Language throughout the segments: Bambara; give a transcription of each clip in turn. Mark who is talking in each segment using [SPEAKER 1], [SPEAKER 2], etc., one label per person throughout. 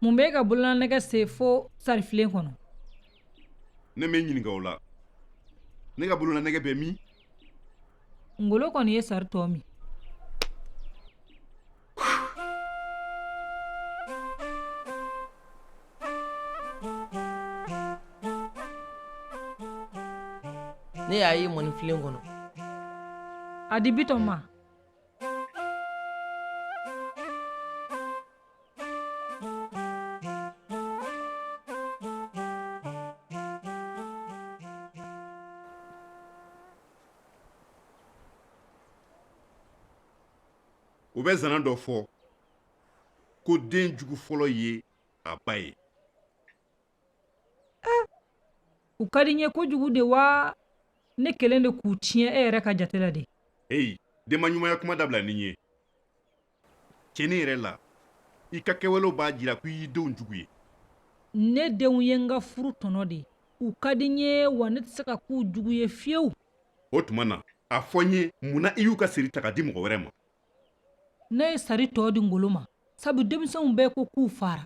[SPEAKER 1] mun b'e ka bololanɛgɛ se fo sarifilen kɔnɔ ne ma i ɲininka o la ne ka bololanɛgɛ bɛ min ngolo kɔni ye sari tɔ min n'e y'a ye mɔnifilen kɔnɔ a di bitɔn ma U bɛ zana dɔ fɔ ko den jugu fɔlɔ ye a ba ye ah, u ka di n ye kojugu de wa ne kelen de k'u tiɲɛ e yɛrɛ ka jate la de heyi denba ɲumanya kuma dabila n ye tiɲɛnin yɛrɛ la i ka kɛwalew b'a jira ko i y'i denw jugu ye ne denw ye n ka furu tɔnɔ de u ka di n ye wa ne tɛ se ka k'u jugu ye fiyewu o tuma na a fɔ n ye mun na i y'u ka seri ta ka di mɔgɔ wɛrɛ ma ne ye sari tɔ di ngolo ma sabu denmisɛnw bɛɛ ko k'u fara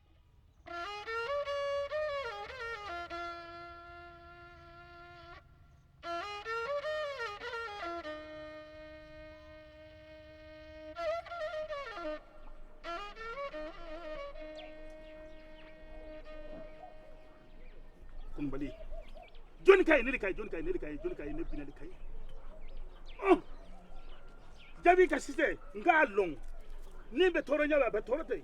[SPEAKER 1] ka ye ne de ka ye jɔni ka ye ne de ka ye jɔni ka ye ne binali ka ye jaabi ka sise n k'a lɔn ni bɛ tɔɔrɔnya la a bɛ tɔɔrɔ tɛ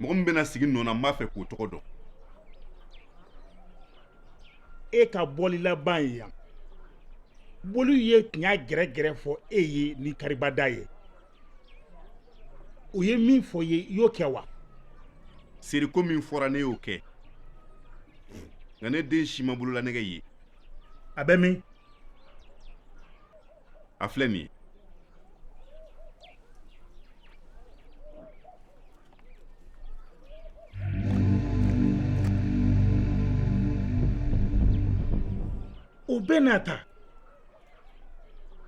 [SPEAKER 1] mɔgɔ min bɛna sigi n nɔ na n b'a fɛ k'o tɔgɔ dɔn e ka bɔli laban ye yan boliw ye tiɲɛ gɛrɛgɛrɛ fɔ e ye ni karibada ye u ye min fɔ i ye i y'o kɛ wa seriko min fɔra ne y'o kɛ nka ne den si ma bololanɛgɛ ye a bɛ min a filɛ nin ye o bɛɛ n'a ta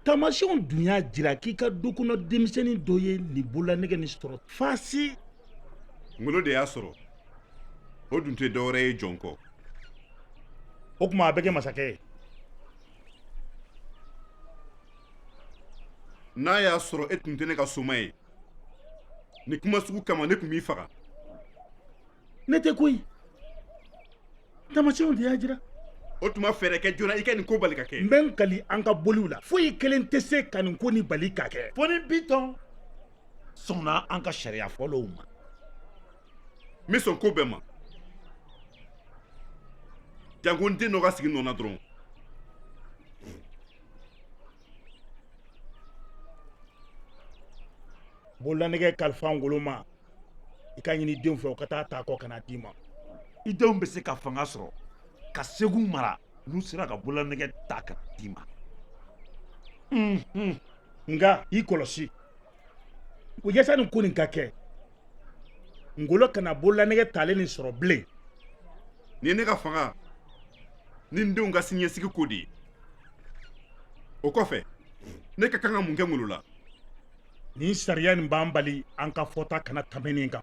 [SPEAKER 1] taamasiyɛnw dun y'a jira k'i ka du kɔnɔ denmisɛnnin dɔ ye nin bololanɛgɛ nin sɔrɔ fasi ngolo de y'a sɔrɔ o dun tɛ dɔwɛrɛ ye jɔn kɔ o tuma a bɛ kɛ masakɛ ye n'a y'a sɔrɔ e tun tɛ ne ka soma ye nin kuma sugu kama ne tun b'i faga ne tɛ koyi tamasiyɛnw de y'a jira o tuma fɛɛrɛ kɛ joona i ka nin ko bali ka kɛ n bɛ n kali an ka boliw la foyi kelen tɛ se ka nin ko nin bali ka kɛ fo ni bitɔn sɔnna an ka sariya fɔlɔw ma n bɛ sɔn ko bɛɛ ma janko n den dɔ ka sigi n nɔ na dɔrɔn bololanɛgɛ kalifa ngolo ma i k'a ɲini i denw fɛ u ka taa ta kɔ ka na d'i ma i denw bɛ se ka fanga sɔrɔ ka segu mara n'u sera ka bololanɛgɛ ta ka na d'i ma nka i kɔlɔsi o yasa nin ko nin ka kɛ ngolo kana bololanɛgɛ talen nin sɔrɔ bilen nin ye ne ka fanga ni n denw ka siniɲɛsigi ko de ye o kɔfɛ ne ka kan ka mun kɛ ngolo la nin sariya nin b'an bali an ka fɔta kana tɛmɛ nin kan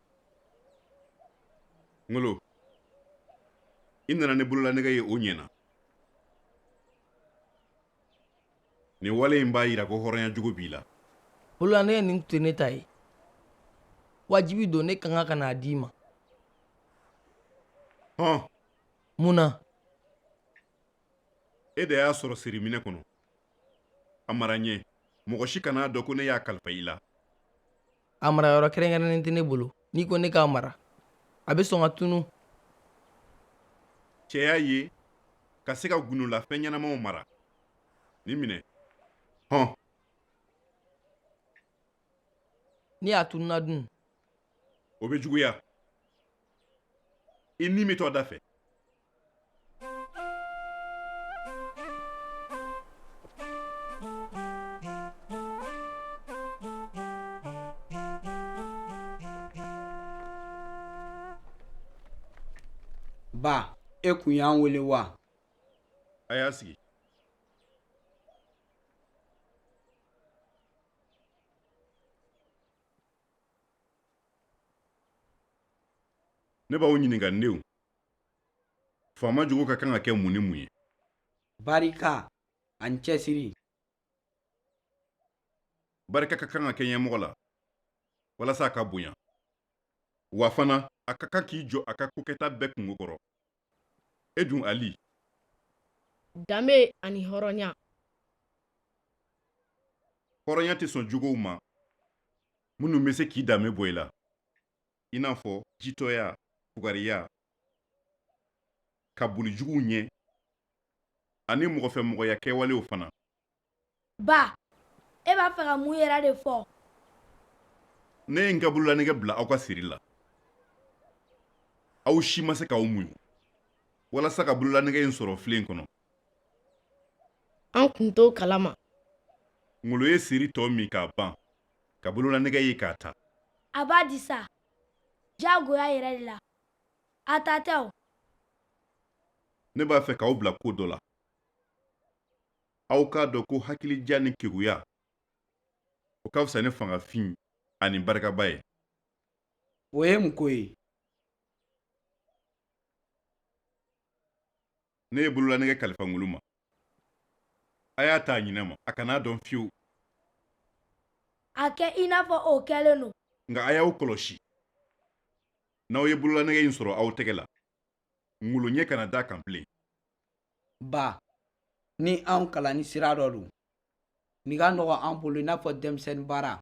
[SPEAKER 1] ngolo i nana ni bololanɛgɛ ye o ɲɛna nin wale in b'a yira ko hɔrɔnya jogo b'i la bololanɛgɛ nin tun tɛ ne ta ye wajibi don ne kan ka ka n'a d'i ma hɔn mun na e de y'a sɔrɔ siriminɛ kɔnɔ a mara ɲɛ mɔgɔ si kan'a dɔn ko ne y'a kalifa i la a marayɔrɔ kɛrɛnkɛrɛnnen tɛ ne bolo n'i ko ne k'a mara a bɛ sɔn ka tunu cɛya ye ka se ka gundola fɛn ɲɛnamaw mara nin minɛ hɔn ni a tununa dun o bɛ juguya i ni bɛ to a dafɛ Ba e kun y'an weele wa a y'a sigi ne b'aw ɲininka n denw Faama jogo ka kan ka kɛ mun ni mun ye barika ani cɛsiri barika ka kan ka kɛ ɲɛmɔgɔ la walasa a ka bonya wa fana a ka kan k'i jɔ a ka kokɛta bɛɛ kunko kɔrɔ e dun ali danbe ani hɔrɔnya hɔrɔnya tɛ sɔn jogow ma minnu bɛ se k'i danbe bɔ i la i n'a fɔ jitɔya fugariya ka boli juguw ɲɛ ani mɔgɔfɛmɔgɔya kɛwalew fana ba e b'a fɛ ka mun yɛrɛ de fɔ ne ye n ka bololanɛgɛ bila aw ka seri la aw si ma se k'aw muɲu walasa ka bololanɛgɛ in sɔrɔ filen kɔnɔ an kun t'o kalama ngolo ye seri tɔ min k'a ban ka bololanɛgɛ ye k'a ta a b'a di sa diyagoya yɛrɛ de la a ta tɛ o ne b'a fɛ k'aw bila ko dɔ la aw k'a dɔn ko hakilidiya ni keguya o ka fisa ni fangafin ani barikaba ye o ye mun ko ye ne ye bololanɛgɛ kalifa ngolo ma a y'a ta a ɲinɛ ma a kan'a dɔn fiyewu a kɛ i n'a fɔ o kɛlen don nka a y'aw kɔlɔsi n'aw ye bololanɛgɛ in sɔrɔ aw tɛgɛ la ngolo ɲɛ kana da a kan bilen ba ni anw kalanni sira dɔ don nin ka nɔgɔ an bolo i n'a fɔ denmisɛnnin baara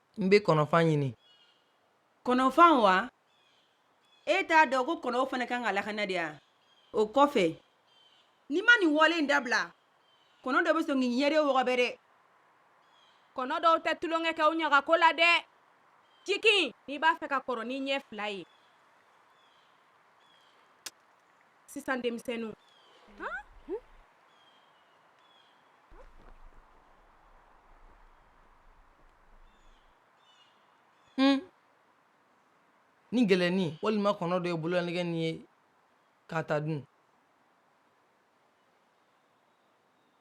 [SPEAKER 1] n bɛ kɔnɔfan ɲini kɔnɔfan wa e t'a dɔn ko kɔnɔw fana kan ka lakana de yan o kɔfɛ n'i ma nin wale in dabila kɔnɔ dɔ bɛ sɔn k'i ɲɛ de wɔgɔbɛ dɛ kɔnɔ dɔw tɛ tulonkɛ kɛ u ɲagako la dɛ jigin n'i b'a fɛ ka kɔrɔ n'i ɲɛ fila ye sisan denmisɛnninw hmm. ni ngɛlɛnnin walima kɔnɔ dɔ ye bololanɛgɛ nin ye k'a ta dun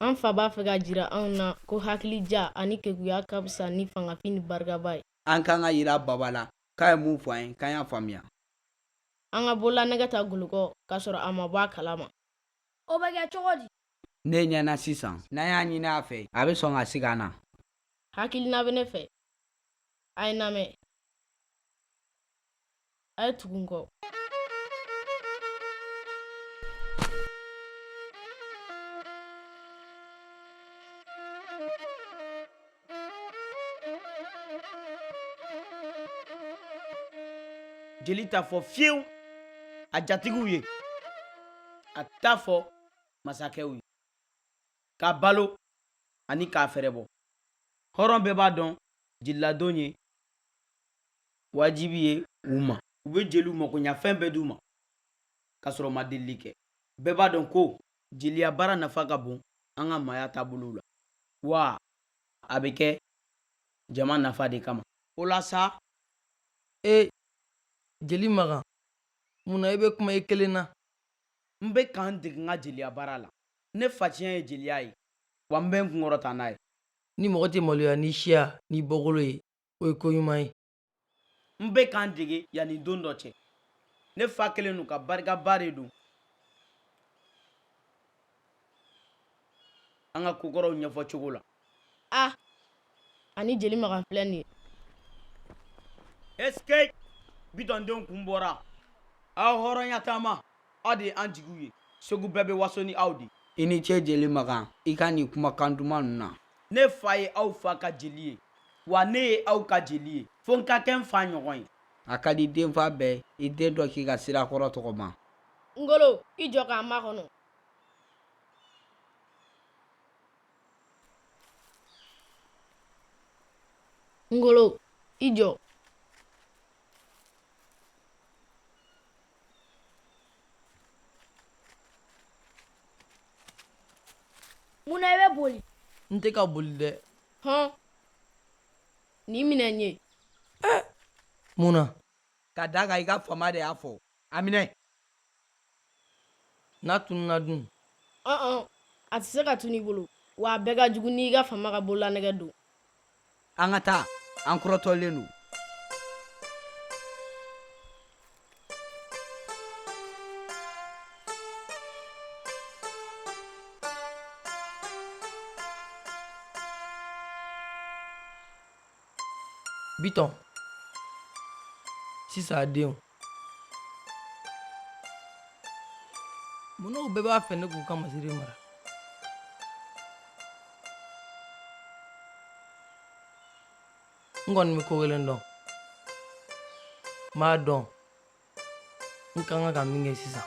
[SPEAKER 1] An fa b'a fɛ k'a jira anw na ko hakilidiya ani keguya ka fisa ni fangafin ni barikaba ye. An kan k'a jira Baba la k'a ye min fɔ an ye, k'an y'a faamuya. An ka bololanɛgɛ ta Ngolo kɔ k'a sɔrɔ a ma bɔ a kalama. O bɛ kɛ cogo di? Ne ɲɛ na sisan. N'an y'a ɲini a fɛ, a bɛ sɔn ka siga an na. Hakilina bɛ ne fɛ. A ye n lamɛn. A ye tugu n kɔ. jeli t'a fɔ fiyewu a jatigiw ye a t'a fɔ masakɛw ye k'a balo ani k'a fɛrɛbɔ hɔrɔn bɛɛ b'a dɔn jeliladon ye wajibi ye u ma u bɛ jeliw makoɲafɛn bɛɛ d'u ma ka sɔrɔ ma delili kɛ bɛɛ b'a dɔn ko jeliya baara nafa ka bon an ka maaya taabolow la wa a bɛ kɛ jama nafa de kama o la sa e jeli makan mun na i bɛ kuma i kelen na n bɛ ka n dege n ka jeliya baara la ne fatiɲɛ ye jeliya ye wa n bɛ n kunkɔrɔta n'a ye ni mɔgɔ tɛ maloya n'i siya n'i bɔkolo ye o ye ko ɲuman ye n bɛ ka n dege yanni don dɔ cɛ ne fa kɛlen don ka barikaba de don an ka kokɔrɔw ɲɛfɔ cogo la a ani jeli makan filɛ nin ye ɛsikɛyi bitɔndenw kun bɔra aw hɔrɔnya taama aw de ye an jigiw ye segu bɛɛ bɛ waso ni aw de i ni ce jeli makan i ka nin kumakan duman ninnu na ne fa ye aw fa ka jeli ye wa ne ye aw ka jeli ye fo n ka kɛ n fa ɲɔgɔn ye a ka di denfa bɛɛ y'i den dɔ k'i ka sira kɔrɔ tɔgɔma ngolo i jɔ k'an makɔnɔ ngolo i jɔ Mun na i bɛ boli n tɛ ka boli dɛ hɔn nin minɛ n ye mun na ka d'a kan i ka faama de y'a fɔ a minɛ n'a tununa dun ɔn a tɛ se ka tunu i bolo wa a bɛɛ ka jugu n'i ka faama ka bololanɛgɛ don an ka taa an kɔrɔtɔlen don bitɔn sisan denw Munna u bɛɛ b'a fɛ ne k'u ka masiri mara n kɔni bɛ ko kelen dɔn n b'a dɔn n ka kan ka min kɛ sisan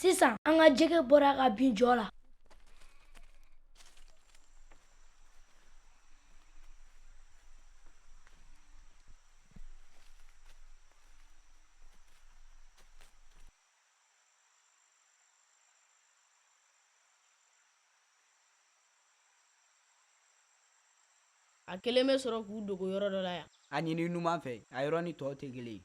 [SPEAKER 1] sisan an ka jɛgɛ bɔra ka bin jɔ la a kɛlen bɛ sɔrɔ k'u dogo yɔrɔ dɔ la yan a ɲini numan fɛ a yɔrɔ ni tɔw tɛ kelen ye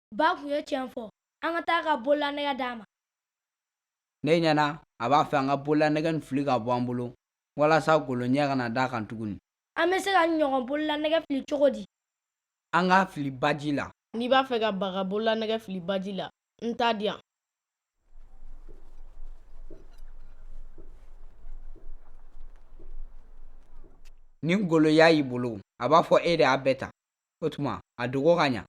[SPEAKER 1] ba tun ye tiɲɛ fɔ an ka taa ka bololanɛgɛ d'a ma ne ɲɛ na a b'a fɛ an ka bololanɛgɛ in fili ka bɔ an bolo walasa Ngolo ɲɛ kana d'a kan tuguni an bɛ se ka ɲɔgɔn bololanɛgɛ fili cogo di an k'a fili baji la n'i b'a fɛ ka ba ka bololanɛgɛ fili baji la n t'a di yan ni Ngolo y'a y'i bolo a b'a fɔ e de y'a bɛɛ ta O tuma a dogo ka ɲa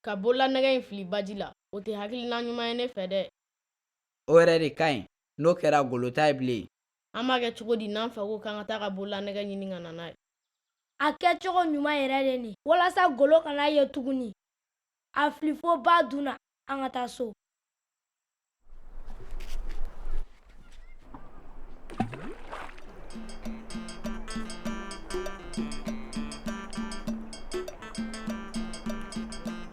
[SPEAKER 1] ka bololanɛgɛ in fili baji la o tɛ hakilina ɲuman ye ne fɛ dɛ o yɛrɛ de ka ɲi n'o kɛra Ngolo t'a ye bilen an b'a kɛ cogo di n'an fa ko k'an ka taa ka bololanɛgɛ ɲini ka na n'a ye a kɛcogo ɲuman yɛrɛ de nin walasa Ngolo kan'a ye tuguni a fili fo ba dun na an ka taa so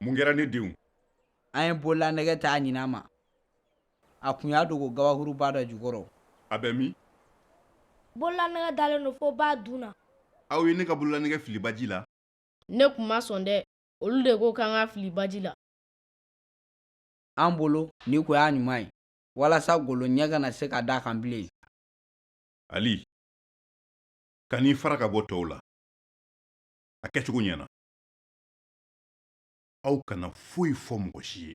[SPEAKER 1] Mun kɛra ne denw an ye bololanɛgɛ t'a ɲina ma a tun y'a dogo kabakuruba dɔ jukɔrɔ a bɛ min bololanɛgɛ dalen don fo ba dun na aw ye ne ka bololanɛgɛ fili baji la ne tun ma sɔn dɛ olu de ko k'an k'a fili baji la an bolo ni ko y'a ɲuman ye walasa Ngolo ɲɛ kana se ka d'a kan bilen Ali kan'i fara ka bɔ tɔw la a kɛcogo ɲɛna aw kana foyi fɔ mɔgɔ si ye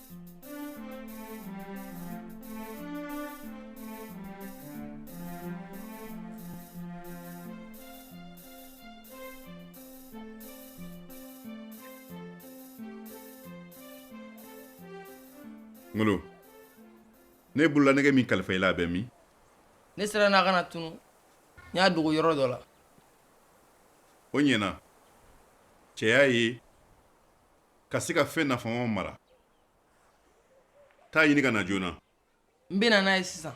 [SPEAKER 1] Ngolo n ye bololanɛgɛ min kalifa i la a bɛ min? Ne siranna a kana tunun n y'a dogo yɔrɔ dɔ la. O ɲɛna cɛya ye ka se ka fɛn nafamaw mara taa a ɲini ka na joona n bɛ na n'a ye sisan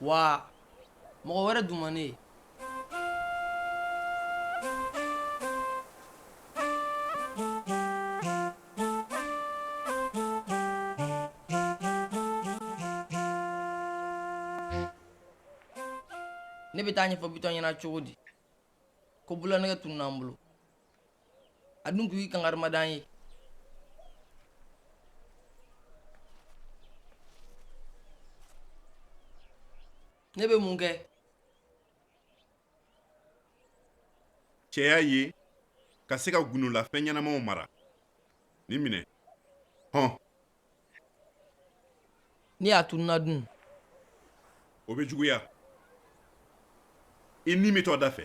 [SPEAKER 1] wa mɔgɔ wɛrɛ dun ma ne ye ne bɛ taa a ɲɛfɔ bitɔn ɲɛna cogo di ko bololanɛgɛ tununna n bolo a dun tun ye kankari da n ye ne bɛ mun kɛ cɛya ye ka se ka gundolafɛn ɲɛnamaw mara nin minɛ hɔn Ni a tununna dun o bɛ juguya i ni bɛ to o da fɛ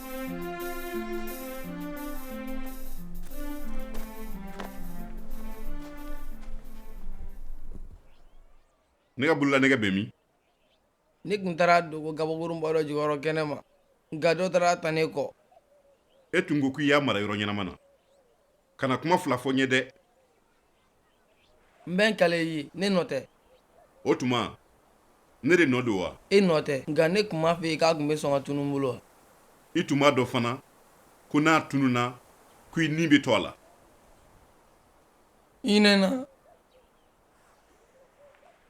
[SPEAKER 1] Ne ka bolola nɛgɛ bɛ min ne tun taar'a dogo gabakurunba dɔ jukɔrɔ kɛnɛ ma nka dɔ taar'a ta ne kɔ e tun ko k'i y'a mara yɔrɔ ɲɛnama na kana kuma fila fɔ n ɲɛ dɛ n bɛ n kali i ye ne nɔ tɛ o tuma ne de nɔ don wa e nɔ tɛ nka ne tun m'a f'e ye k'a tun bɛ sɔn ka tunun n bolo wa i tun b'a dɔn fana ko n'a tununna ko i ni bɛ to a la i nɛna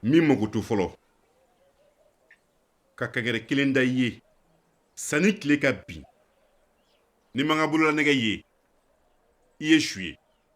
[SPEAKER 1] min mako to fɔlɔ ka kankari kelen da i ye sani tile ka bin ni n ma n ka bololanɛgɛ ye i ye su ye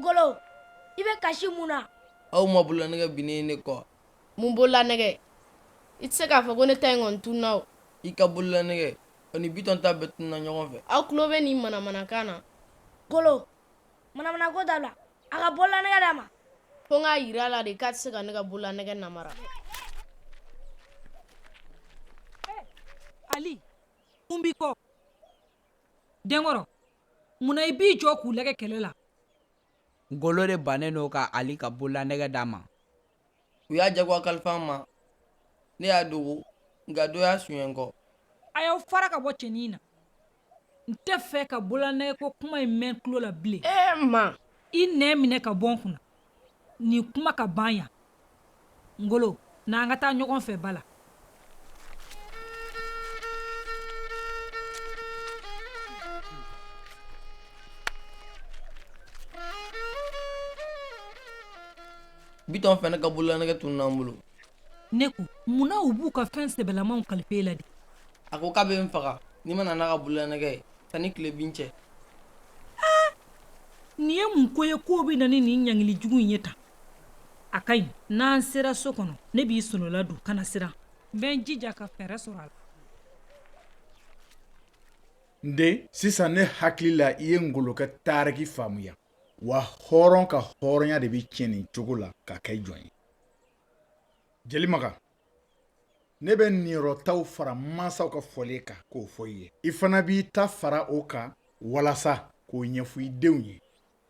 [SPEAKER 1] Ngolo i bɛ kasi mun na aw ma bolola nɛgɛ bin ne kɔ mun bolola nɛgɛ i tɛ se k'a fɔ ko ne ta in kɔni tununna i ka bolola nɛgɛ ani bitɔn ta bɛɛ tununna ɲɔgɔn fɛ aw tulo bɛ nin manamanakan na ngolo Manamanako dabila a ka bolola nɛgɛ d'a ma ko n k'a jira a la de k'a tɛ se ka ne ka bolola nɛgɛ namara Ali mun b'i kɔ denkɔrɔ munna i b'i jɔ k'u lajɛ kɛlɛ la ngolo de bannen don ka ali ka bolola nɛgɛ d'a ma u y'a jagoya kalifa n ma ne y'a dogo nka dɔ y'a suɲɛ n kɔ a y'aw fara ka bɔ cɛnin na n t'a fɛ ka bololanɛgɛ ko kuma in mɛn tulo la bilen ma i nɛn minɛ ka bɔ n kunna nin kuma ka ban yan ngolo n'an ka taa ɲɔgɔn fɛ bada la bitɔn fana ka bololanɛgɛ tununna n bolo ne ko munna u b'u ka fɛn sɛbɛlamaw kalifa i la de a ko k'a bɛ n faga ni n ma na n'a ka bololanɛgɛ ye sanni tile bin cɛ nin ye mun ko ye k'o bɛ na ni nin ɲangili jugu in ye tan a ka ɲi n'an sera so kɔnɔ ne b'i solola don kana siran n bɛ n jija ka fɛɛrɛ sɔrɔ a la n den sisan ne hakili la i ye ngolo ka taariki faamuya wa hɔrɔn ka hɔrɔnya de bɛ tiɲɛ nin cogo la ka kɛ jɔn ye jeli makan ne bɛ niyɔrɔtaw fara mansaw ka fɔlen kan k'o fɔ i ye i fana b'i ta fara o kan walasa k'o ɲɛfɔ i denw ye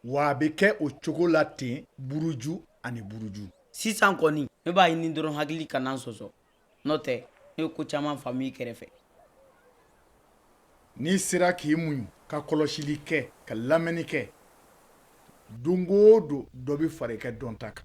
[SPEAKER 1] wa a bɛ kɛ o cogo la ten buruju ani buruju sisan kɔni ne b'a ɲini dɔrɔn hakili kana n sɔsɔ n'o tɛ ne ye ko caman faamu i kɛrɛfɛ n'i sera k'i muɲu ka kɔlɔsili kɛ ka lamɛnni kɛ don o don dɔ bɛ fara i ka dɔnta kan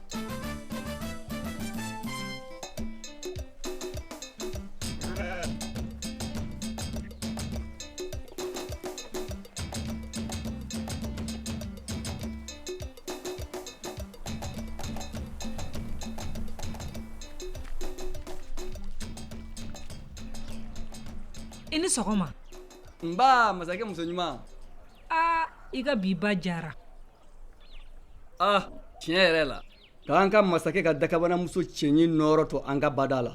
[SPEAKER 1] I ni sɔgɔma nba masakɛ muso ɲuman i ka bi ba diyara ah tiɲɛ yɛrɛ la k'an ka masakɛ ka dakabana muso cɛɲi nɔɔrɔ to an ka bada la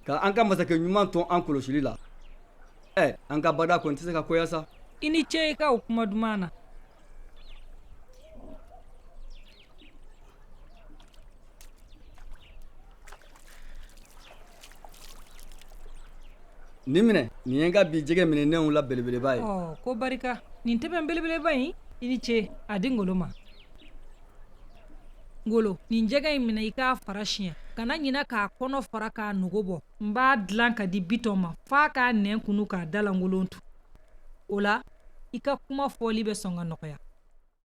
[SPEAKER 1] ka an ka masakɛ ɲuman to an kɔlɔsili la ɛ eh, an ka bada kɔni tɛ se ka goya sa i ni ce i ka o kuma duman na Nin minɛ nin ye n ka bi jɛgɛ minɛnenw la belebeleba ye ko barika nin ntɛbɛn belebeleba in i ni ce a di ngolo ma ngolo nin jɛgɛ in minɛ i k'a fara siɲɛ kana ɲina k'a kɔnɔ fara k'a nugu bɔ n b'a dilan k'a di bitɔn ma f'a k'a nɛn kunu k'a da lankolon to o la i ka kuma fɔli bɛ sɔn ka nɔgɔya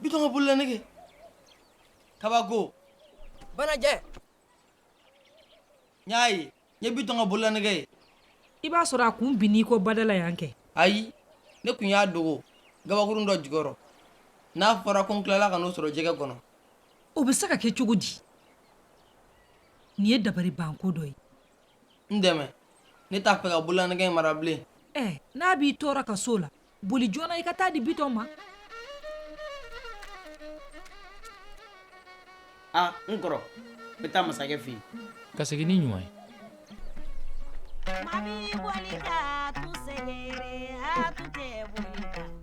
[SPEAKER 1] bitɔn ka bololanɛgɛ kabako banajɛ n y'a ye n ye bitɔn ka bololanɛgɛ ye i b'a sɔrɔ a kun binn'i kɔ bada la yan kɛ ayi ne kun y'a dogo gabakurun dɔ jukɔrɔ n'a fɔra ko n tilala ka n'o sɔrɔ jɛgɛ kɔnɔ o bɛ se ka kɛ cogo di nin ye dabaribanko dɔ ye n dɛmɛ ne t'a fɛ ka bololanɛgɛ in mara bilen ɛ n'a b'i tɔɔrɔ ka s'o la boli joona i ka t'a di bitɔn ma a n kɔrɔ n bɛ taa masakɛ fɛ yen ka segin n'i ɲuman ye Mami bolika tu segere a tu te bolika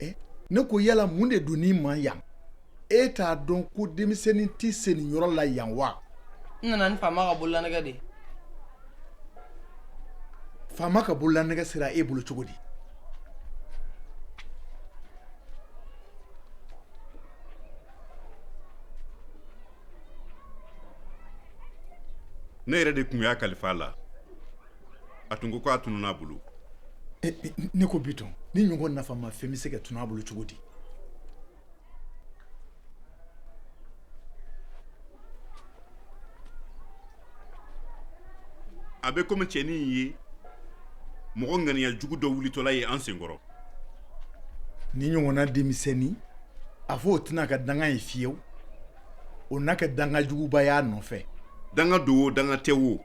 [SPEAKER 1] eh, ne ko yala mun de don n'i ma yan e t'a dɔn ko denmisɛnnin tɛ se nin yɔrɔ la yan wa n nana ni faama ka bololanɛgɛ de faama ka bololanɛgɛ sera e bolo cogo di ne yɛrɛ de tun y'a kalifa la a tun ko ko a tununn'a bolo ne ko bitɔn nin ɲɔgɔn nafamafɛn bɛ se ka tunun a bolo cogo di a bɛ komi cɛnin ye mɔgɔ ŋaniya jugu dɔ wulitɔla ye an senkɔrɔ nin ɲɔgɔnna denmisɛnnin a fɔ o tɛna ka danga ye fiyewu o n'a ka danga juguba y'a nɔfɛ danga don o danga tɛ wo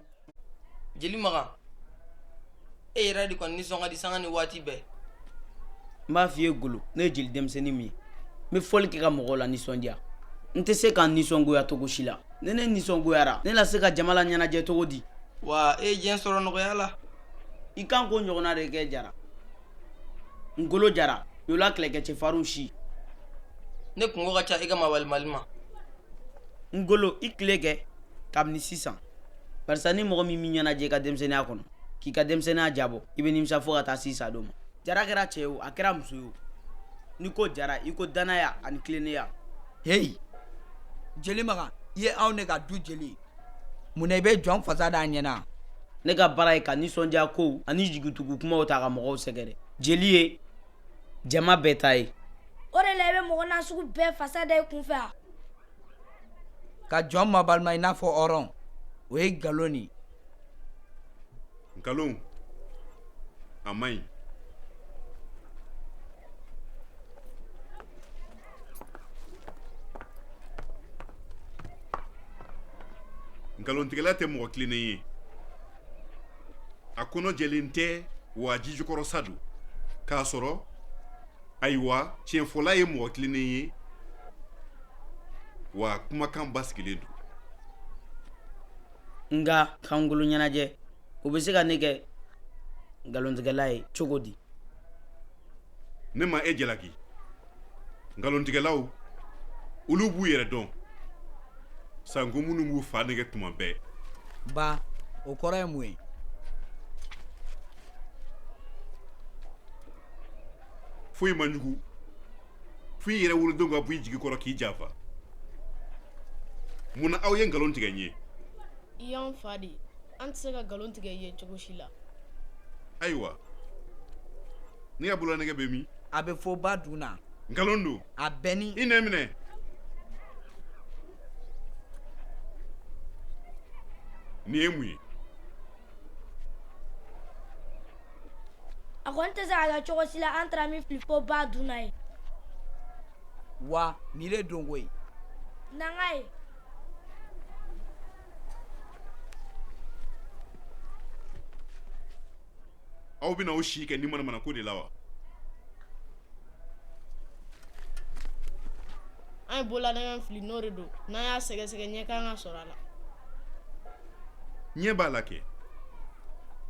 [SPEAKER 1] jeli makan e yɛrɛ de kɔni nisɔn ka di sanga ni waati bɛɛ n b'a f'i ye ngolo ne ye jeli denmisɛnnin min ye n bɛ fɔli kɛ ka mɔgɔw lanisɔndiya n tɛ se ka n nisɔngoya cogo si la ni ne nisɔngoyara ne na se ka jama laɲɛnajɛ cogo di wa e ye diɲɛ sɔrɔ nɔgɔya la i kan k'o ɲɔgɔnna de kɛ jara ngolo jara yola kɛlɛkɛ cɛfarinw si ne kungo ka ca i ka mawalimali ma ngolo i tile kɛ kabini sisan barisa ni mɔgɔ min m'i ɲɛnajɛ i ka denmisɛnninya kɔnɔ k'i ka denmisɛnninya diyabɔ i bɛ nimisa fo ka taa s'i sa don ma jara kɛra cɛ ye o a kɛra muso ye o n'i ko jara i ko danaya ani tilennenya heyi jeli makan i ye anw ne ka du jeli mun na i bɛ jɔn fasa d'a ɲɛna ne ka baara ye ka nisɔndiya kow ani jigitugu kumaw ta ka mɔgɔw sɛgɛrɛ jeli ye jama bɛɛ ta ye o de la i bɛ mɔgɔ nasugu bɛɛ fasa da i kunfɛ a ka jɔn mabalima i n'a fɔ hɔrɔn o ye nkalon de ye nkalon a man ɲi nkalontigɛla tɛ mɔgɔ tilennen ye a kɔnɔ jɛlen tɛ wa jijukɔrɔsa don kasɔrɔ ayiwa tiɲɛfɔla ye mɔgɔ tilennen ye wa kumakan basigilen don nka kankolo ɲɛnajɛ o bɛ se ka ne kɛ nkalontigɛla ye cogo di ne ma e jalaki nkalontigɛlaw olu b'u yɛrɛ dɔn sanko minnu b'u fa nɛgɛn tuma bɛɛ ba o kɔrɔ ye mun ye foyi man jugu fo i yɛrɛ wolodenw ka bɔ i jigi kɔrɔ k'i janfa mun na aw ye nkalon tigɛ n ye i y'an fa ye an tɛ se ka nkalon tigɛ i ye cogo si la ayiwa ne ka bololanɛgɛ bɛ min a bɛ fo ba dun na nkalon don a bɛɛ ni i nɛ minɛ nin ye mun ye a kɔni tɛ se ka kɛ cogo si la an taara min fili fo ba dun na ye wa nin de donko ye nanga ye aw bɛna aw si kɛ nin manamana ko de la wa an ye bololanɛgɛ fili n'o de don n'an y'a sɛgɛsɛgɛ ɲɛ kan ka sɔrɔ a la ɲɛ b'a la kɛ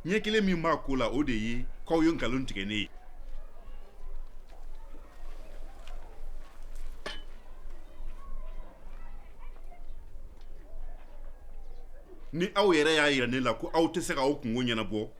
[SPEAKER 1] ɲɛ kelen min b'a ko la o de ye k'aw ye nkalon tigɛ ne ye ni aw yɛrɛ y'a jira ne la ko aw tɛ se k'aw kunko ɲɛnabɔ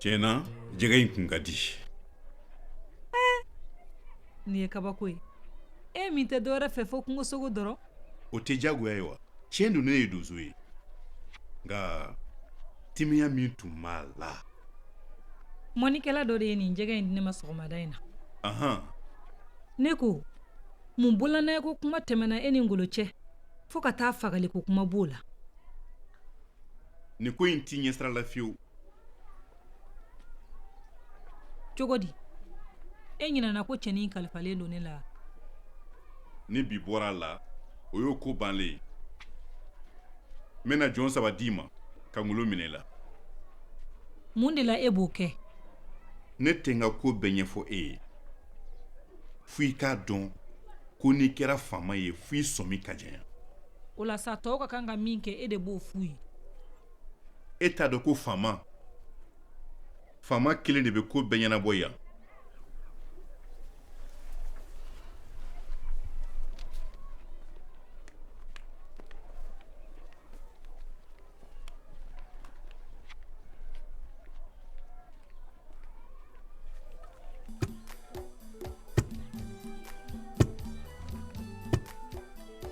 [SPEAKER 1] tiɲɛ na jɛgɛ in kun ka di nin ye kabako ye e min tɛ dɔwɛrɛ fɛ fo kungosogo dɔrɔn o tɛ diyagoya ye wa tiɲɛ don ne ye donso ye nka timiya min tun b'a la mɔnikɛla dɔ de ye nin jɛgɛ in di ne ma sɔgɔmada in na ahan ne ko mun bololanɛgɛ ko kuma tɛmɛna e ni ngolo cɛ fo ka taa fagali ko kuma b'o la nin ko in t'i ɲɛsira la fiyewu cogo di e ɲinɛna ko cɛnin kalifalen don ne la ni bi bɔra a la o y'o ko bannen ye n bɛna jɔn saba d'i ma ka ngolo minɛ i la mun de la e b'o kɛ ne tɛ n ka ko bɛɛ ɲɛfɔ e ye fo i k'a dɔn ko n'i kɛra faama ye fo i sɔmi ka janya o la sa tɔw ka kan ka min kɛ e de b'o f'u ye e t'a dɔn ko faama faama kelen de bɛ ko bɛɛ ɲɛnabɔ yan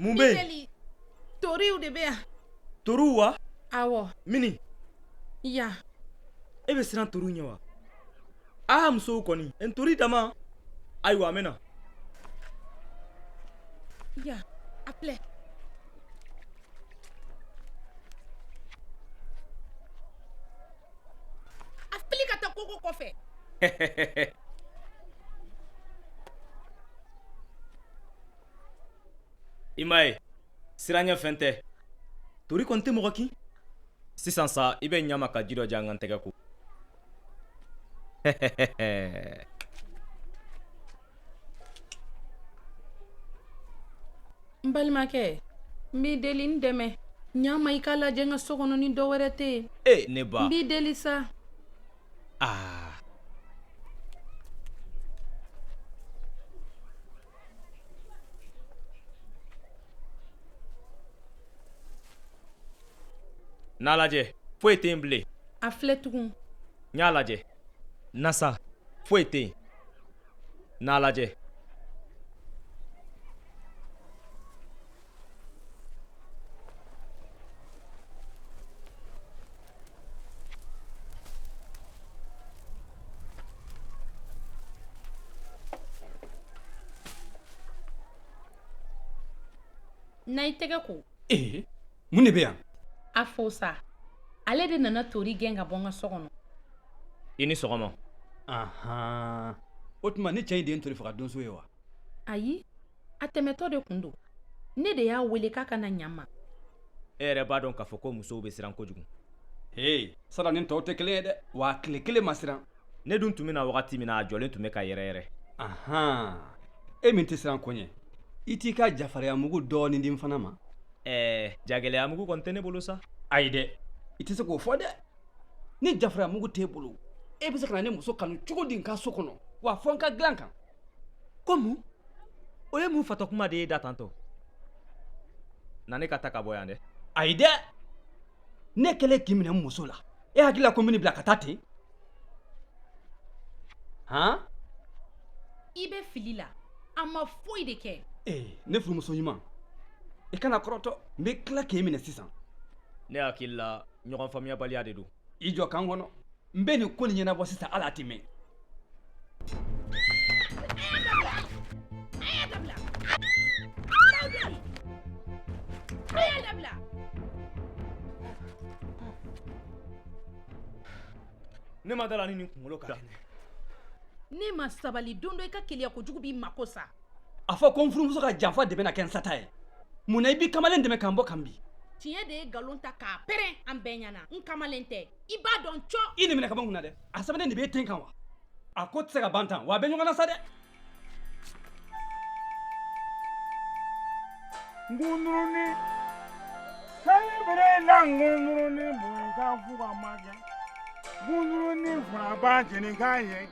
[SPEAKER 1] mun bɛ yen toriw de bɛ yan toriw wa awɔ mini yan e bɛ siran toriw ɲɛ wa aa musow kɔni n tori dama ayiwa a minɛna yan a filɛ a fili ka taa koko kɔfɛ i m'a ye siranɲɛfɛn tɛ tori kɔni tɛ mɔgɔ kin sisan sa i bɛ ɲa n ma ka ji dɔ di yan n ka n tɛgɛ ko N balimakɛ n b'i deli n dɛmɛ ɲa n ma i k'a lajɛ n ka so kɔnɔ ni dɔ wɛrɛ tɛ yen e ne ba n b'i deli sa aa N'a lajɛ foyi tɛ yen bilen a filɛ tugun n y'a lajɛ na sa foyi tɛ yen n'a lajɛ na i tɛgɛ ko ee mun de bɛ yan a fo sa ale de nana tori gɛn ka bɔ n ka so kɔnɔ i ni sɔgɔma ahan o tuma nin cɛ in de ye n tori faga donso ye wa ayi a tɛmɛtɔ de tun don ne de y'a wele k'a ka na ɲa n ma e yɛrɛ b'a dɔn k'a fɔ ko musow bɛ siran kojugu ee sara ni tɔw tɛ kelen ye dɛ wa tile kelen ma siran ne dun tun bɛ na wagati min na a jɔlen tun bɛ ka yɛrɛ yɛrɛ ahan e min tɛ siran ko ɲɛ i t'i ka jafariyamugu dɔɔnin di n fana ma ɛɛ jagɛlɛyamugu kɔni tɛ ne bolo sa ayi dɛ i tɛ se k'o fɔ dɛ ni jafariyamugu t'e bolo e bɛ se ka na ne muso kanu cogo di n ka so kɔnɔ wa fo n ka dilan kan ko mun o ye mun fatɔ kuma de ye da tantɔ na ne ka taa ka bɔ yan dɛ ayi dɛ ne kɛlen k'i minɛ n muso la e hakili la ko n bɛn'i bila ka taa ten han i bɛ fili la a ma foyi de kɛ ee ne furumuso ɲuman i kana kɔrɔtɔ n bɛ tila k'e minɛ sisan ne hakili la ɲɔgɔn faamuyabaliya de don i jɔ ka n kɔnɔ n bɛ nin ko nin ɲɛnabɔ sisan ala tɛ mɛn a y'a dabila a y'a dabila ne ma d'a la ni nin kunkolo ka kɛnɛ n'i ma sabali don dɔ i ka keleya kojugu b'i mako sa a fɔ ko n furumuso ka janfa de bɛna kɛ n sata ye mun na i b'i kamalen dɛmɛ k'an bɔ kan bi tiɲɛ de ye nkalon ta k'a pɛrɛn an bɛɛ ɲɛna n kamalen tɛ i b'a dɔn cɔ i nin minɛ kaban kun na dɛ a sɛbɛnnen de b'e ten kan wa a ko tɛ se ka ban tan wa a bɛ ɲɔgɔn na sa dɛ ngunuruni sɛbɛrɛ la ngunuruni bonya ka fo ka ma kɛ ngunuruni fana b'a jeni k'a ye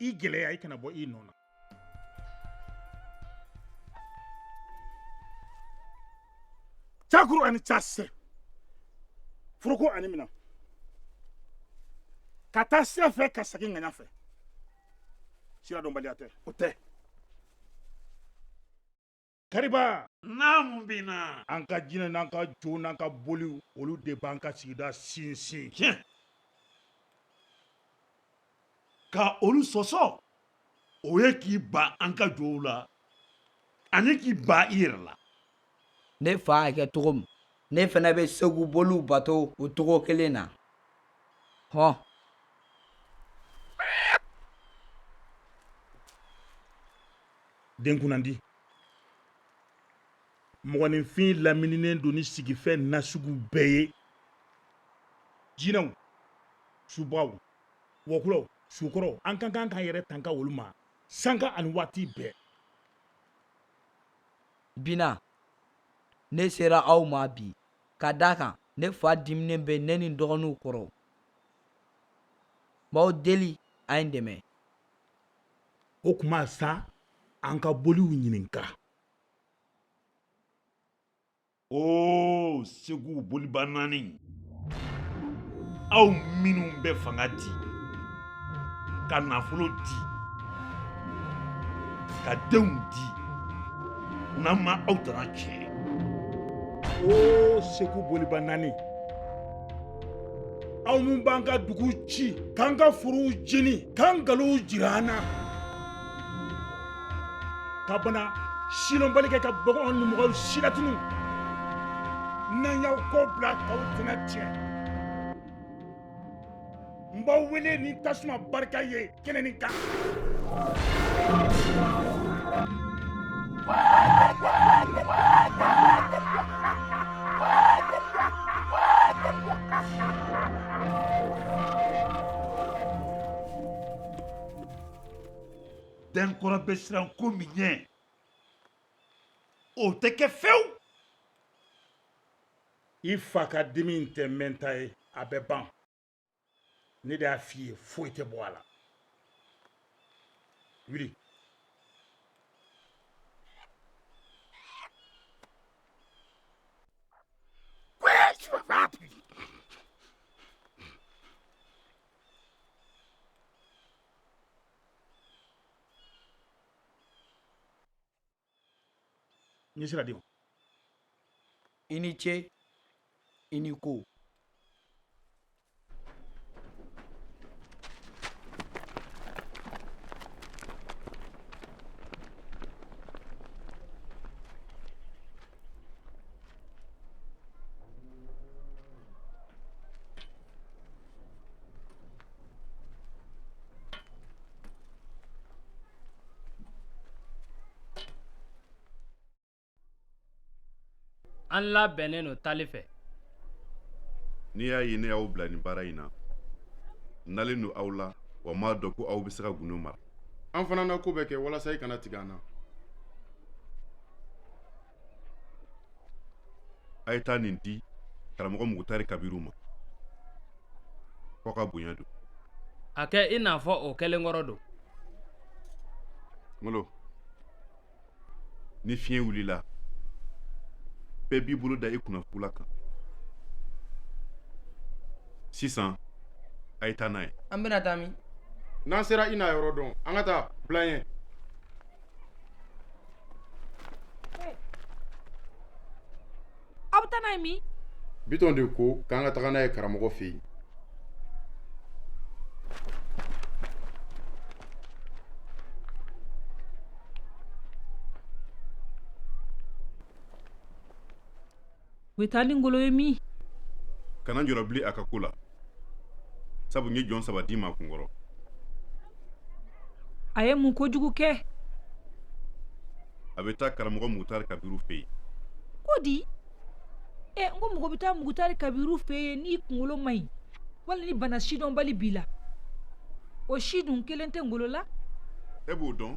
[SPEAKER 1] i gɛlɛya i kana bɔ i nɔ na cakuru ani casɛ foroko ani mina ka taa sira fɛ ka segin ŋaɲa fɛ sira dɔnbaliya tɛ o tɛ kariba naamu bina an ka jinɛ n'an ka jow n'an ka boliw olu de b'an ka sigida sinsin tiɲɛ ka olu sɔsɔ o ye k'i ban an ka jow la ani k'i ban i yɛrɛ la ne fa y'a kɛ cogo min ne fana bɛ segu boliw bato o cogo kelen na hɔn den kunnandi mɔgɔninfin lamininen don ni sigifɛn nasugu bɛɛ ye jinɛw subagaw wɔkulɔw sukɔrɔw an ka kan k'an yɛrɛ tanga olu ma sanga ani waati bɛɛ bina ne sera aw ma bi ka d'a kan ne fa diminen bɛ ne ni dɔgɔninw kɔrɔ n b'aw deli a ye n dɛmɛ o tuma sa an ka boliw ɲininka o segu boliba naani aw minnu bɛ fanga di ka nafolo di ka denw di n'an ma aw tana tiɲɛ o segu boliba naani aw min b'an ka dugu ci k'an ka forow jeni k'an galow jira an na ka bana silɔnbali kɛ ka baganw ni mɔgɔw silatunu n'an y'aw kɔ bila k'aw tɛna tiɲɛ n b'aw wele ni tasuma barika ye kɛnɛ nin kan Denkɔrɔ bɛ siran ko min ɲɛ o tɛ kɛ fewu i fa ka dimi in tɛ mɛnta ye a bɛ ban ne de y'a f'i ye foyi tɛ bɔ a la wuli N sira de i ni ce i ni ko an labɛnnen don taali fɛ n'i y'a ye ne y'aw bila nin baara in na n dalen don aw la wa n b'a dɔn ko aw bɛ se ka gundo mara an fana na ko bɛɛ kɛ walasa i kana tigɛ an na a ye taa nin di karamɔgɔ mugutari kabiru ma ko a ka bonya don a kɛ i n'a fɔ o kɛlen kɔrɔ don ngolo ni fiɲɛ wulila bɛɛ b'i bolo da i kunna fugula kan sisan a ye taa n'a ye an bɛna taa min n'an sera i n'a yɔrɔ dɔn an ka taa bila ɲɛ Aw bɛ taa min bitɔn de ko k'an ka taga n'a ye karamɔgɔ fɛ yen u bɛ taa ni ngolo ye min kana jɔrɔ bilen a ka ko la sabu n ye jɔn saba d'i ma kunkɔrɔ a ye mun kojugu kɛ a bɛ taa karamɔgɔ mugutari kabiru fɛ yen ko di ɛ n ko mɔgɔ bɛ taa mugutari kabiru fɛ yen n'i kunkolo man ɲi wali ni bana sidɔnbali b'i la o si dun kelen tɛ ngolo la e b'o dɔn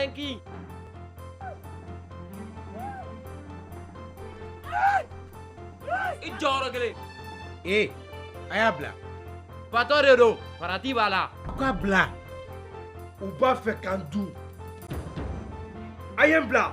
[SPEAKER 1] An k'i jɔ yɔrɔ kelen. Ee, a y'a bila. Fatɔ de don, farati b'a la. U k'a bila. U b'a fɛ k'an dun. A ye n bila.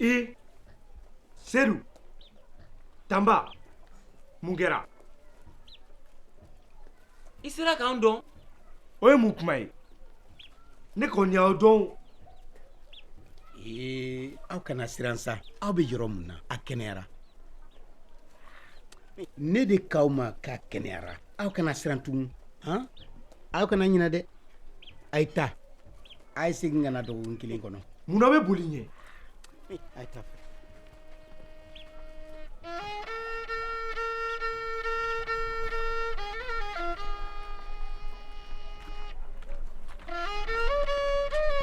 [SPEAKER 1] i sedu tanba mun kɛra i sera k'an dɔn o ye mun kuma ye ne kɔni y'aw dɔn ee aw kana siran sa aw bɛ yɔrɔ min na a kɛnɛyara ne de k'aw ma k'a kɛnɛyara aw kana siran tugun han aw kana ɲinɛ dɛ a ye taa a ye segin ka na dɔgɔkun kelen kɔnɔ mun na aw bɛ boli n ɲɛ a ye taa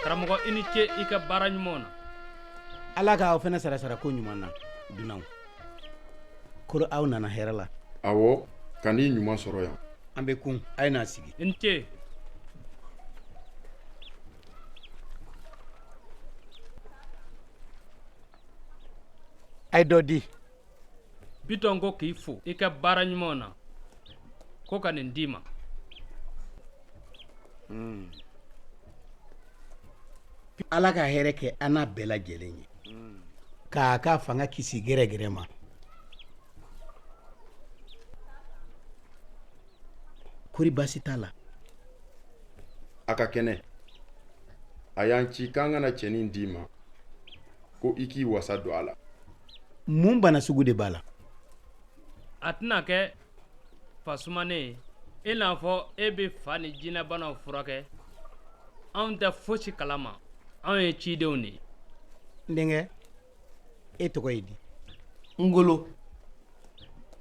[SPEAKER 1] karamɔgɔ i ni ce i ka baara ɲumanw na ala k'aw fana sara sarako ɲuman na dunanw kɔri aw nana hɛrɛ la awɔ ka n'i ɲuman sɔrɔ yan an bɛ kun a ye n'a sigi n ce a ye dɔ di bitɔn ko k'i fo i ka baara ɲumanw na ko ka nin d'i ma Ala ka hɛrɛ kɛ an n'a bɛɛ lajɛlen ye k'a ka fanga kisi gɛrɛgɛrɛ ma kɔri baasi t'a la a ka kɛnɛ a y'an ci k'an ka na cɛnin d'i ma ko i k'i wasa don a la mun bana sugu de b'a la a tɛna kɛ fa sumanen i n'a fɔ e bɛ fa ni jinɛbanaw furakɛ anw tɛ fosi kalama anw ye cidenw de ye n denkɛ e tɔgɔ ye di ngolo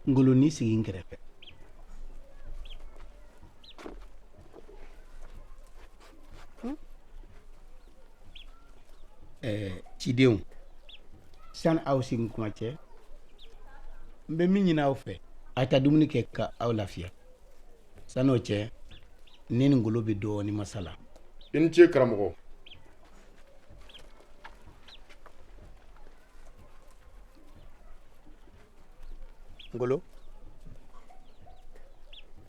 [SPEAKER 1] ngolo n'i sigi n kɛrɛfɛ ɛɛ cidenw sani aw segin kuma cɛ n bɛ min ɲini aw fɛ a taa dumuni kɛ ka aw lafiya sani o cɛ ne ni ngolo bɛ dɔɔnin masala i ni ce karamɔgɔ ngolo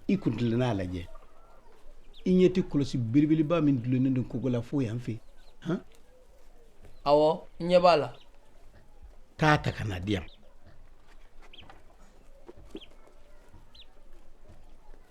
[SPEAKER 1] i kun tilenna a lajɛ i ɲɛ tɛ kɔlɔsi belebeleba min dulonnen don kogo la fo yan fɛ han awɔ n ɲɛ b'a la taa a ta ka n'a di yan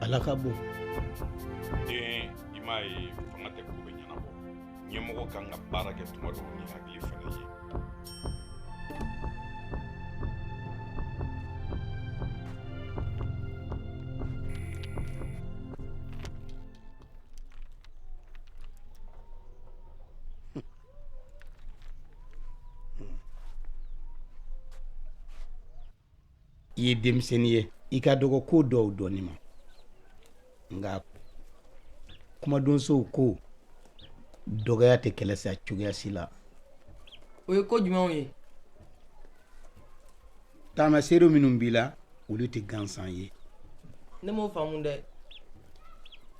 [SPEAKER 1] Ala ka bon den i m'a ye fanga tɛ ko bɛɛ ɲɛnabɔ ɲɛmɔgɔ ka kan ka baara kɛ tuma dɔw ni hakili fana ye i ye denmisɛnnin ye i ka dɔgɔ ko dɔw dɔnni ma nka kumadonsow ko dɔgɔya tɛ kɛlɛ sa cogoya si la o ye ko jumɛnw ye taamaseere minnu b'i la olu tɛ gansan ye ne m'o faamu dɛ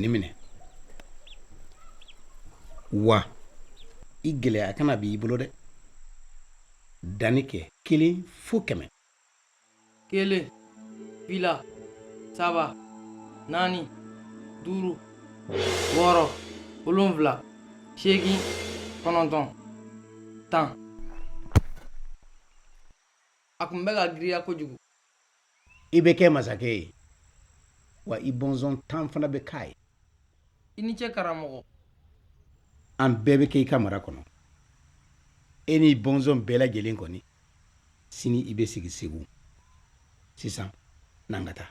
[SPEAKER 1] nin minɛ wa i gɛlɛya a kana b'i bolo dɛ danni kɛ kelen fo kɛmɛ kelen fila saba naani duuru wɔɔrɔ wolonfila seegin kɔnɔntɔn tan a tun bɛ ka giriya kojugu i bɛ kɛ masakɛ ye wa i bɔnsɔn tan fana bɛ k'a ye i ni ce karamɔgɔ an bɛɛ bɛ kɛ i ka mara kɔnɔ e n'i bɔnsɔn bɛɛ lajɛlen kɔni sini i bɛ sigi segu sisan n'an ka taa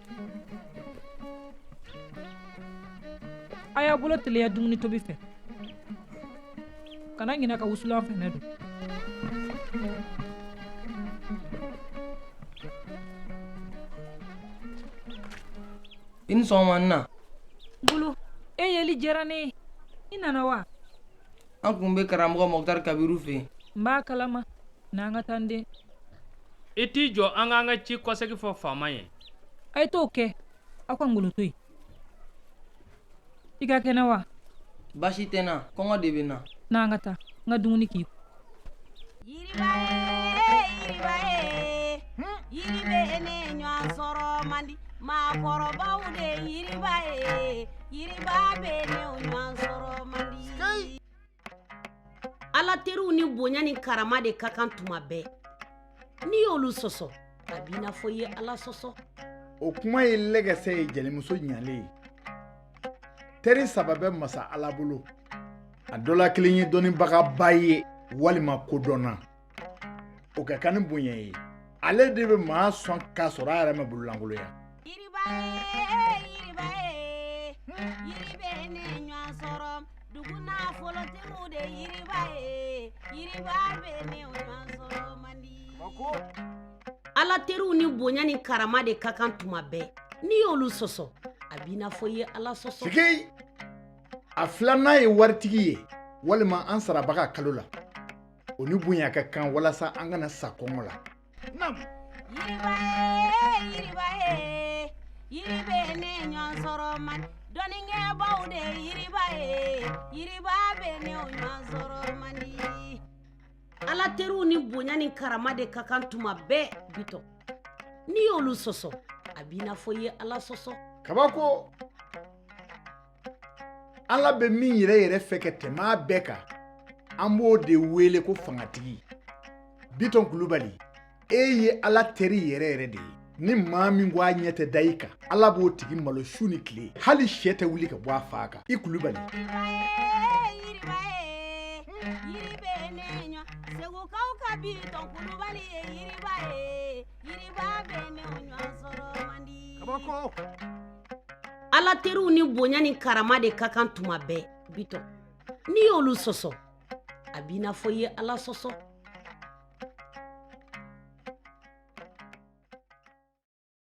[SPEAKER 1] a y'a bolo teliya dumuni tobi fɛ kana ɲinɛ ka wusulan fɛnɛ don i ni sɔgɔma n na bulu e yeli diyara ne ye i nana wa an tun bɛ karamɔgɔ mɔkutari kabiru fɛ yen n b'a kalama n'an ka taa dɛ i t'i jɔ an k'an ka ci kɔsegi fɔ faama ye ayi t'o kɛ aw ka ngolo to yen i ka kɛnɛ wa basi tɛ n na kɔngɔ de bɛ n na n'an ka taa n ka dumuni kɛ Ala teriw ni bonya ni karama de ka kan tuma bɛɛ n'i y'olu sɔsɔ a b'i n'a fɔ i ye ala sɔsɔ o kuma ye lɛgɛsɛ ye jelimuso ɲalen ye teri saba bɛ masa ala bolo a dɔ la kelen ye dɔnnibagaba ye walima kodɔnna o ka kan ni bonya ye ale de bɛ maa sɔn k'a sɔrɔ a yɛrɛ ma bololankolonya yiriba ye yiriba ye yiri binnen ɲɔgɔn sɔrɔ dugu nafolotigiw de yiriba ye yiriba binnen ɲɔgɔn sɔrɔ man di ala teriw ni bonya ni karama de ka kan tuma bɛɛ n'i y'olu sɔsɔ a b'i n'a fɔ i ye ala sɔsɔ sigei a filanan ye waritigi ye walima an sarabaga kalo la o ni bonya ka kan walasa an kana sa kɔngɔ la naamu yiriba ye yiriba ye yiri binnen ɲɔgɔn sɔrɔ man di dɔnnikɛbaw de yiriba ye yiriba binnen ɲɔgɔn sɔrɔ man di ala teriw ni bonya ni karama de ka kan tuma bɛɛ bitɔ n'i y'olu sɔsɔ a b'i n'a fɔ i ye ala sɔsɔ kabako ala bɛ min yɛrɛ yɛrɛ fɛ ka tɛmɛ bɛɛ kan an b'o de wele ko fangatigi bitɔn kulubali e ye ala teri yɛrɛ yɛrɛ de ye ni maa min ko a ɲɛ tɛ da i kan ala b'o tigi malo su ni tile hali sɛ tɛ wuli ka bɔ a fan kan i kulubali segukaw ka bitɔn kulubali ye yiriba ye yiriba binnen ɲɔgɔn sɔrɔ man di ala teriw ni bonya ni karama de ka kan tuma bɛɛ bitɔn n'i y'olu sɔsɔ a b'i n'a fɔ i ye ala sɔsɔ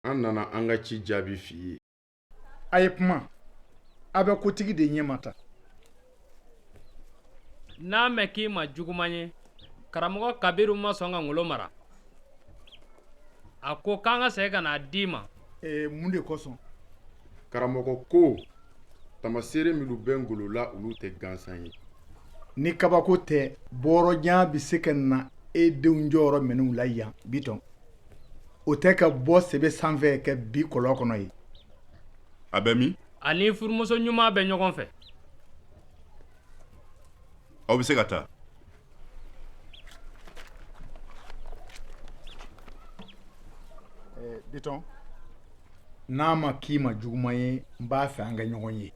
[SPEAKER 1] An nana an ka ci jaabi f'i ye a ye kuma a bɛ kotigi de ɲɛ ma ta n'a mɛn k'i ma juguman ye karamɔgɔ kabiru ma sɔn ka ngolo mara a ko k'an ka segin ka n'a d'i ma ee mun de kosɔn karamɔgɔ ko taamaseere minnu bɛ ngolo la olu tɛ gansan ye ni kabako tɛ bɔɔrɔjan bɛ se ka na e denw jɔyɔrɔ minɛ u la yan bitɔn o tɛ ka bɔ sebe sanfɛ ka bin kɔlɔn kɔnɔ ye a bɛ min ani furumuso ɲuman bɛ ɲɔgɔn fɛ aw bɛ se ka taa bitɔn n'a ma k'i ma juguman ye n b'a fɛ an ka ɲɔgɔn ye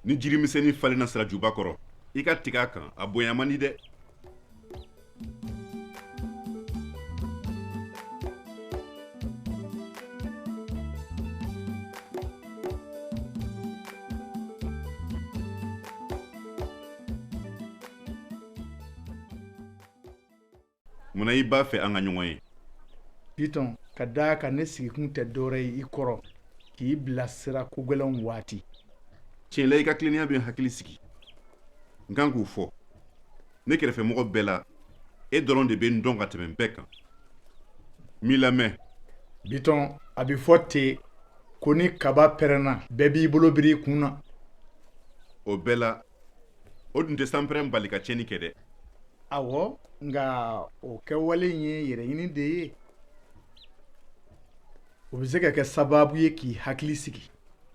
[SPEAKER 1] ni jirimisɛnnin falenna sirajuba kɔrɔ i ka tigɛ a kan a bonya man di dɛ munna i b'a fɛ an ka ɲɔgɔn ye bitɔn ka d'a kan ne sigikun tɛ dɔwɛrɛ ye i kɔrɔ k'i bilasira kogɛlɛnw waati tiɲɛ la i ka tilennenya bɛ n hakili sigi n kan k'u fɔ ne kɛrɛfɛmɔgɔ bɛɛ la e dɔrɔn de bɛ n dɔn ka tɛmɛ bɛɛ kan n b'i lamɛn bitɔn a bɛ fɔ ten ko ni kaba pɛrɛnna bɛɛ b'i bolo biri i kun na o bɛɛ la o dun tɛ sanpɛrɛn bali ka tiɲɛni kɛ dɛ awɔ nka o kɛwale in ye yɛrɛɲini de ye o bɛ se ka kɛ sababu ye k'i hakili sigi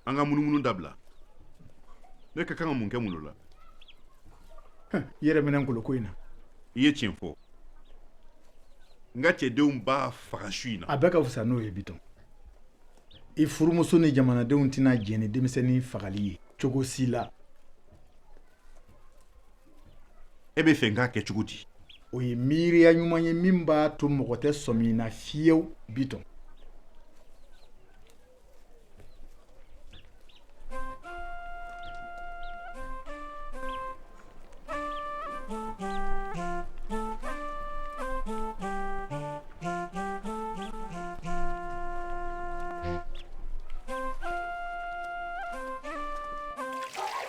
[SPEAKER 1] an ka munumunu dabila ne ka kan ka mun kɛ mun la i yɛrɛ minɛ ngoloko in na i ye tiɲɛ fɔ n ka cɛdenw b'a faga su in na a bɛɛ ka fisa n'o ye bitɔn i furumuso ni jamanadenw tɛna jɛn ni denmisɛnnin fagali ye cogo si la e b'a fɛ n k'a kɛ cogo di o ye miiriya ɲuman ye min b'a to mɔgɔ tɛ sɔmi na fiyew bitɔn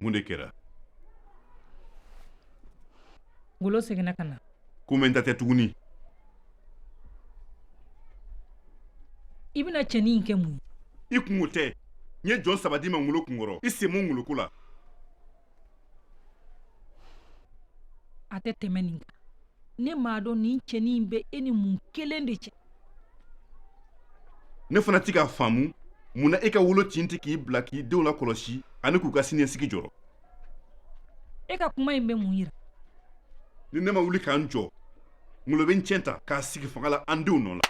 [SPEAKER 1] mun de kɛra ngolo seginna ka na ko mɛnta tɛ tuguni i bɛna cɛnin in kɛ mun ye i kunko tɛ n ye jɔn saba d'i ma ngolo kunkɔrɔ i sen bɔ ngoloko la a tɛ tɛmɛ nin kan ne m'a dɔn nin cɛnin in bɛ e ni mun kelen de cɛ ne fana tɛ k'a faamu mun na e ka wolo tin tɛ k'i bila k'i denw lakɔlɔsi ani k'u ka siniɲɛsigi jɔrɔ e ka kuma in bɛ mun yira ni ne ma wuli ka n jɔ ngolo bɛ n tiɲɛ ta k'a sigi fanga la an denw nɔ la